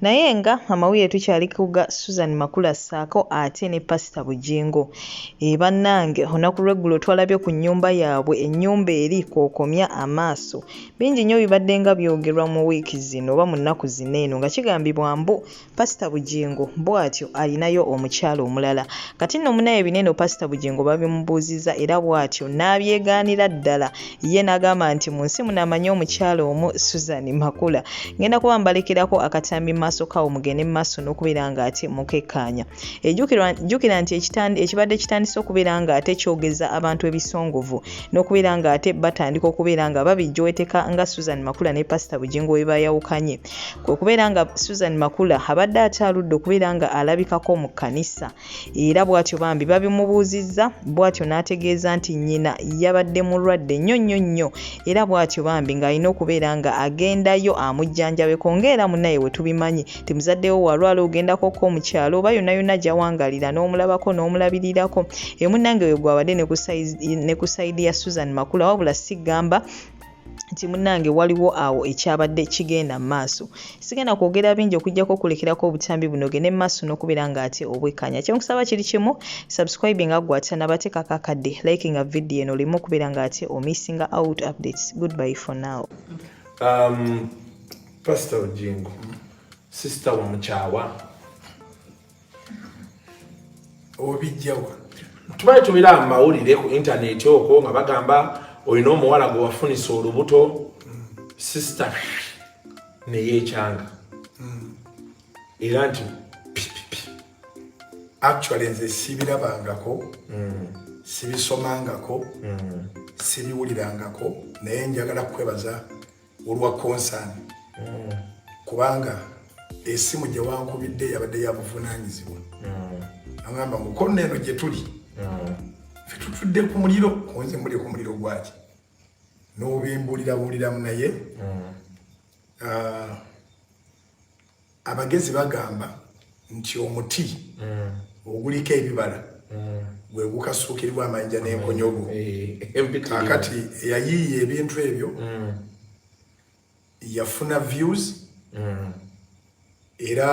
Naye nga amawulire tukyali kuga Susan Makula saako ate ne Pastor Bujingo. E bannange olunaku lw'eggulo twalabye ku nnyumba yaabwe ennyumba eri kwokomya amaaso. Bingi nnyo bibadde nga byogerwa mu wiiki zino oba mu nnaku zino eno nga kigambibwa mbu Pastor Bujingo bwatyo alinayo omukyala omulala. Kati nno munaye bino eno Pastor Bujingo babimubuuzizza era bwatyo n'abyegaanira ddala. ye nagamba nti mu nsi muno amanyi omukyala omu susan makula ngenda kuba mbalekerako akatambi maaso kawo mugende mu maaso n'okubeera nga ate mukekkaanya ejjukira nti ekibadde kitandise okubeera nga ate kyogeza abantu ebisongovu n'okubeera nga ate batandika okubeera nga babijjoweteka nga susan makula ne pasita bugingo we bayawukanye kwe kubeera nga susan makula abadde akyaludde okubeera nga alabikako mu kkanisa era bw'atyo bambi babimubuuzizza bw'atyo n'ategeeza nti nnyina yabadde mulwadde nnyo nnyo nnyo era bw'atyo bambi ng'alina okubeera nga agendayo amujjanjabeko ng'era munaye we tubimanyi nti muzaddewo walwala ogendako ko mu kyalo oba yonayona gyawangalira n'omulabako n'omulabirirako emunange we gwabadde ne ku sayidi ya susan makula wabula sigamba nti munnange waliwo awo ekyabadde kigenda mu maaso sigenda kwogera bingi okujjako okulekerako obutambi bunoge ne maaso n'okubeera nga ate obwekkanya kyenkusaba kiri kimu subscribe nga gwata nabateekako akadde like nga vidiyo eno oleme okubeera nga ate omissinga out updates goodby for now um, pastor ojingo sister wamukyawa obijjawa tubaye tumira amawulire ku intaneti okwo nga bagamba olina omuwala gwe wafunisa olubuto sisita neyekyanga hmm. era nti actually nze sibirabangako hmm. sibisomangako hmm. sibiwulirangako naye njagala kukwebaza olwa concern mm. kubanga esimu gye wankubidde yabadde yabuvunaanyizibwa mm. agamba mukono eno gye tuli mm. fe tutudde ku muliro kunze muli ku muliro gwaki n'obimbulirabuuliramu naye mm. ah, Abagezi bagamba nti omuti mm. oguliko ebibala mm. gwe gukasuukiribwa amayinja n'enkonyogo. Eh, Kakati eyayiiya ebintu ebyo mm. yafuna views era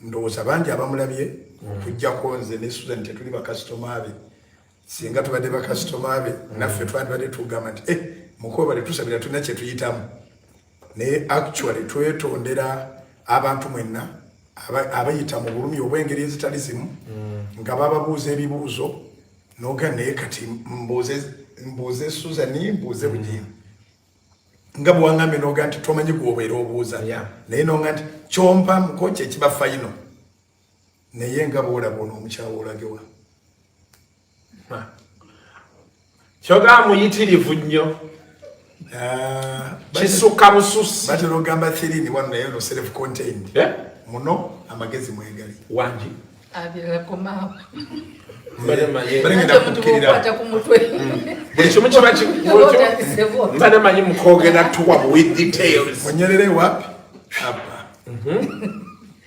ndowooza bangi abamulabye okujjako nze ne Susan tetuli bakasitoma be singa tubadde bakasitoma be naffe twandibadde tugamba nti eh, mukobale tusabira tulina kyetuyitamu naye actually twetondera abantu mwenna abayita mu bulumi obw'engeri ezitali zimu mm. nga bababuuza ebibuuzo noga naye kati mbuuze suzani mbuuze mm. bugimu nga bwewaŋambe noga nti tomanyi gwobeera obuuza naye noga nti kyompa muko kyekiba fayino naye nga bwolaba ono omukyawa olagewa kyoga muyitirivu nnyo ah, kisukka bususi batera ogamba thirini wano naye no self contained eh? muno amagezi mwegali wangi mbade manyi mukwogera tuwa with details onyerere wapi apa mhm.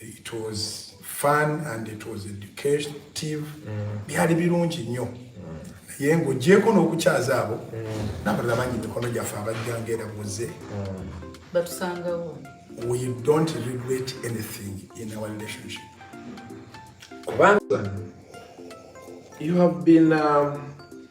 It was fun and it was educative. Mm. Byali birungi nnyo. Mm. Naye ng'ogyeko n'okukyaza abo mm. n'abalala bangi mikono gyaffe abajja ng'era buze. Batusangawo. We don't regret anything in our relationship. Kubanga you have been um,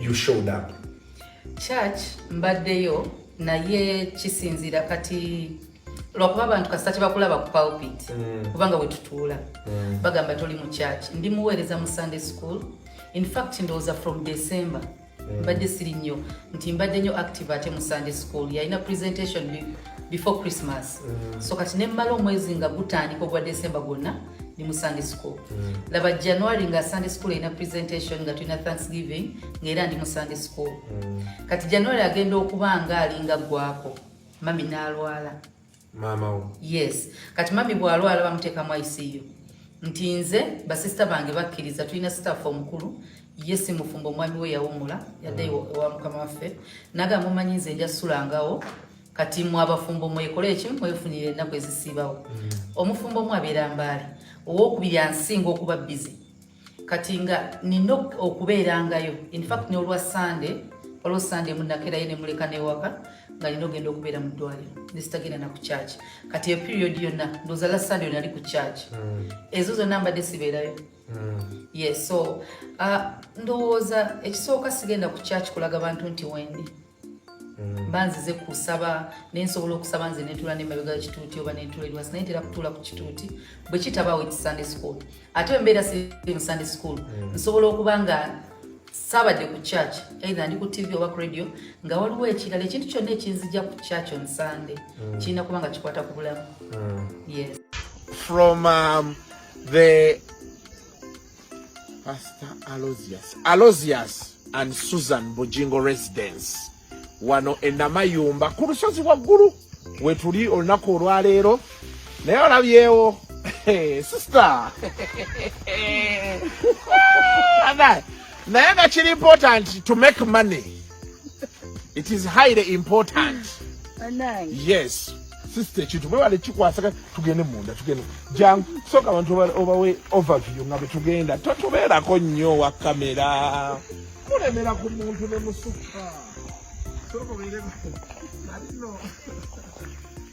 you showed up church mbaddeyo naye kisinzira kati lwakuba abantu kasita kyebakulaba ku pulpit mm. kubanga wetutuula mm. bagamba toli mu church ndi muweereza mu sunday school in fact ndowooza from december mm. mbadde siri nnyo nti mbadde nnyo active ate mu sunday school yalina presentation before christmas mm. so kati nemmala omwezi nga gutandika ogwa december gwonna ni mu sunday school mm. laba january nga sunday school erina presentation nga tulina thanksgiving ngaera ndi mu sunday school mm. kati january agenda okuba nga alinga gwako mami nalwala mamawo yes kati mami bwalwala bamuteekamu iciu nti nze basisita bange bakkiriza tulina sitaffe omukulu ye si mufumbo omwami we yawumula yadde mm. ewa mukama waffe nagamba omanyi nze nja sulangawo kati mwe abafumbo mwekole ekimu mwefunire ennaku ezisiibawo mm. omufumbo omu abeera mbaale owokubiri ansinga okuba bizi kati nga nina okubeerangayo infact neolwa sande olwo sande munakerayo nemuleka newaka nga nina ogenda okubeera mu ddwaliro nesitagenda naku church kati eyo period yonna ndozala sande yo nali ku church mm. ezo zonna mbadde sibeerayo mm. yes so uh, ndowooza ekisooka sigenda ku church kulaga bantu nti wendi mba nzize kusaba naye nsobola okusaba nze netuula nemabega kituuti oba netuula eriwasi naye ntera kutuula ku kituuti bwe kitabaawo eki sunday school ate embeera siri mu sunday school mm. nsobola okuba nga saabadde ku church either ndi ku tv oba ku radio nga waliwo ekirala ekintu kyonna ekinzija ku church on sunday mm. kirina kuba nga kikwata ku bulamu mm. yes from um, the Pastor Alozius. Alozius and Susan Bujingo Residence. Wano enamayumba ku lusozi waggulu wetuli olunaku olwaleero naye olabyewo sister naye nga kiri important to make money it is highly important yes sisita ekintu mwebale kikwasaka tugende munda tugende jangu soka abantu obawe overview nga bwetugenda totubeerako nnyo wa kamera mulemera ku muntu ne musuka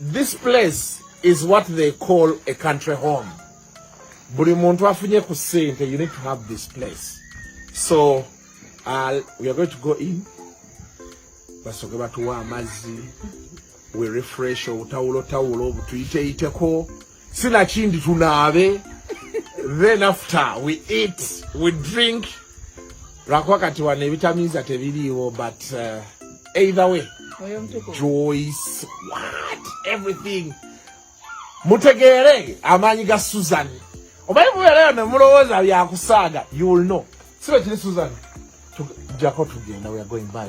This place is what they call a country home. Buli muntu afunye ku sente, you need to have this place. So, uh, we are going to go in. Basoke batuwa amazi. We refresh obutawulo tawulo butuyiteyiteko. sinakindi tunaabe then after we eat we drink lwakuba kati wano ebitamiiza tebiriiwo but uh, either way joyce what everything mutegeere amaanyi ga susan obaye mubeerayo nemulowooza byakusaaga you will know sibe kiri susan tujako tugenda we are going by